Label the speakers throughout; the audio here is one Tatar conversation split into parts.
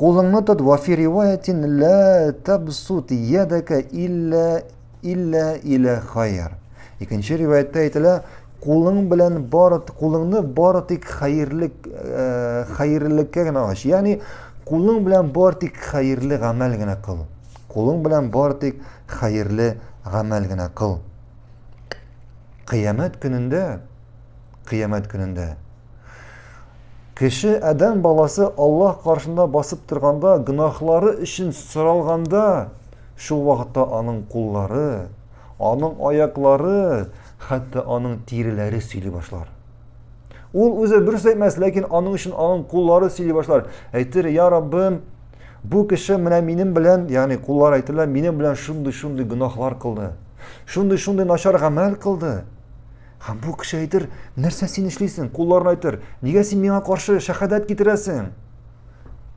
Speaker 1: Кулыңны тот, вафи риваятин лә табсут ядака илля илля илә хайр. Икенче риваятта әйтелә, кулың белән бары кулыңны бары тик хәерлек э, хәерлеккә генә ач. Ягъни кулың белән бары тик хәерле гамәл генә кыл. Кулың белән бары тик хәерле гамәл генә кыл. Кыямәт көнендә Кыямәт көнендә кеше адәм баласы Аллаһ каршында басып торганда, гөнаһлары өчен соралганда, шул вакытта аның куллары, аның аяклары, хәтта аның тиреләре сөйли башлар. Ул үзе дөрес әйтмәс, ләкин аның өчен аның куллары сөйли башлар. Әйтер, "Я Раббым, бу кеше менә минем белән, ягъни куллар әйтелә, минем белән шундый-шундый гөнаһлар кылды. Шундый-шундый начар гамәл кылды. Һәм бу кеше әйтер, нәрсә син эшлисең, кулларын әйтер, нигә син миңа каршы шәһадәт китерәсең?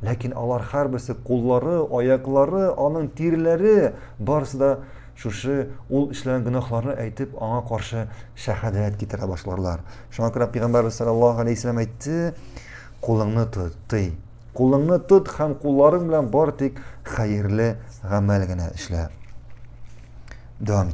Speaker 1: Ләкин алар һәрберсе куллары, аяклары, аның тиреләре барысы да шушы ул эшләгән гөнаһларны әйтеп, аңа каршы шәһадәт китерә башларлар. Шуңа күрә Пәйгамбәрбез саллаллаһу алейһи вәсәләм әйтте, кулыңны тот, тый. Кулыңны тот һәм кулларың белән бар тик хәерле гамәл генә эшлә. Дәвам